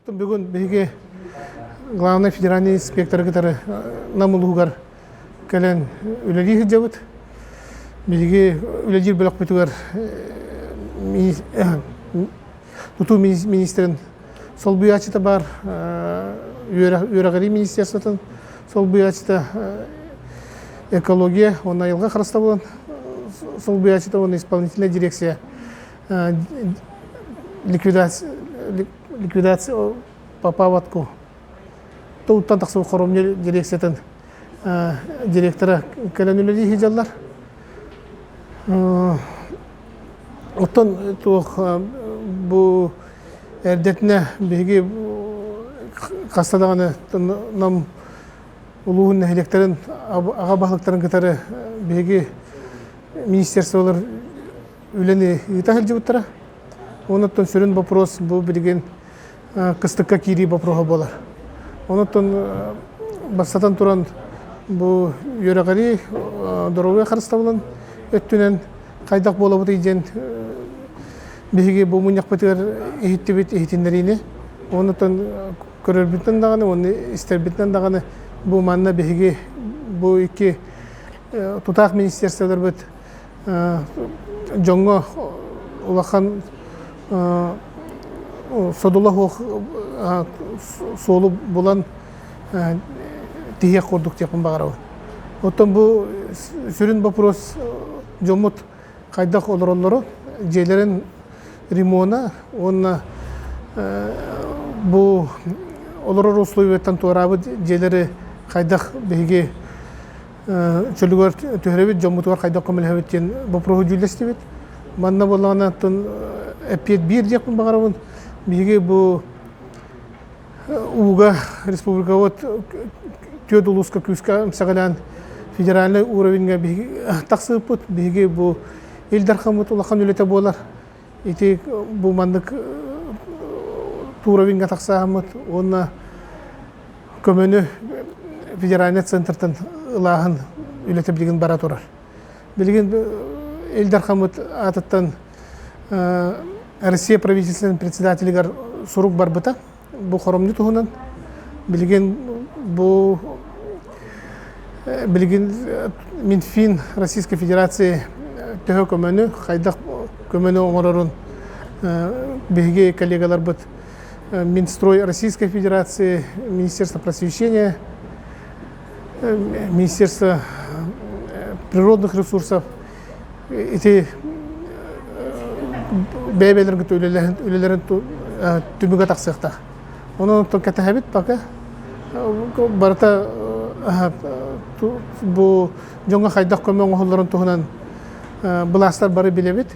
Бүгүн биһиги главнай федеральнай инспекторы кытары Нам улууһугар кэлэн үлэлии сылдьабыт. Биһиги үлэлиир бөлөхпүтүгэр тутуу министрин солбуйааччыта баар үөрэҕирии министерствотын солбуйааччыта экология уонна айылҕа харыстабылын солбуйааччыта уонна исполнительнай дирекция ликвидация попаватку тылтан тахсан хоромньу дирекциятын директора кэлэн үлэлии сылдьаллар. Оттон туох бу эрдэтинэ биһиги хаста даҕаны Нам улууһун нэһилиэктэрин аҕа баһылыктарын кытары биһиги министерстволар үлэни ыыта сылдьыбыттара. Онуттан сүрүн боппуруос бу билигин кыстыкка киирии бопруоһа буолар. Онуттан бастатан туран бу үөрэҕирии доруобуйа харыстабылын өттүнэн хайдах буолабытый диэн биһиги бу мунньахпытыгар иһиттибит иһитиннэриини онуттан көрөрбүттэн даҕаны уонна истэрбитинэн даҕаны бу манна биһиги бу икки тутаах министерстволарбыт дьоҥҥо улахан содула суох суолу булан тиһиэх курдук диэхпин баҕарабын оттон бу сүрүн боппуруос дьоммут хайдах олороллору дьиэлэрин ремона уонна бу олорор условиеттан туораабыт дьиэлэри хайдах биһиги чөлүгэр түһэрэбит дьоммутугар хайдах көмөлөһөбүт диэн боппуруоһу дьүүллэстибит манна буоллаҕына оттон эппиэт биир диэхпин баҕарабын биһиги бу ууга республикабыт түөрт улууска күүскэ эмсэҕэлээн федеральнай уровеньга биһиги тахсыыппыт биһиги бу Ил Дархаммыт улахан үлэтэ буолар Ити бу маннык туровинга тахсааммыт уонна көмөнү федеральнай центртан ылааһын үлэтэ билигин бара турар. Билигин Ил Дархаммыт аатыттан Россия правительствотын председателигэр сурук барбыта. Бу хоромньу туһунан билигин бу э, билигин э, Минфин Российской Федерации төһө көмөнү, хайдах көмөнү оҥорорун биһиги коллегаларбыт Минстрой Российской Федерации, Министерство просвещения, Министерство природных ресурсов Ити бэйэ-бэйэлэргэ үлэлэрин түмүгэ тахсыахта. Ону кэтэһэбит пока. Барыта бу дьоҥҥо хайдах көмө оҥоһулларын туһунан былаастар бары билэбит.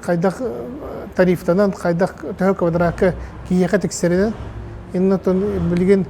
Хайдах тарифтанан, хайдах төһө квадратка киһиэхэ тиксэринэн, иннэ билигин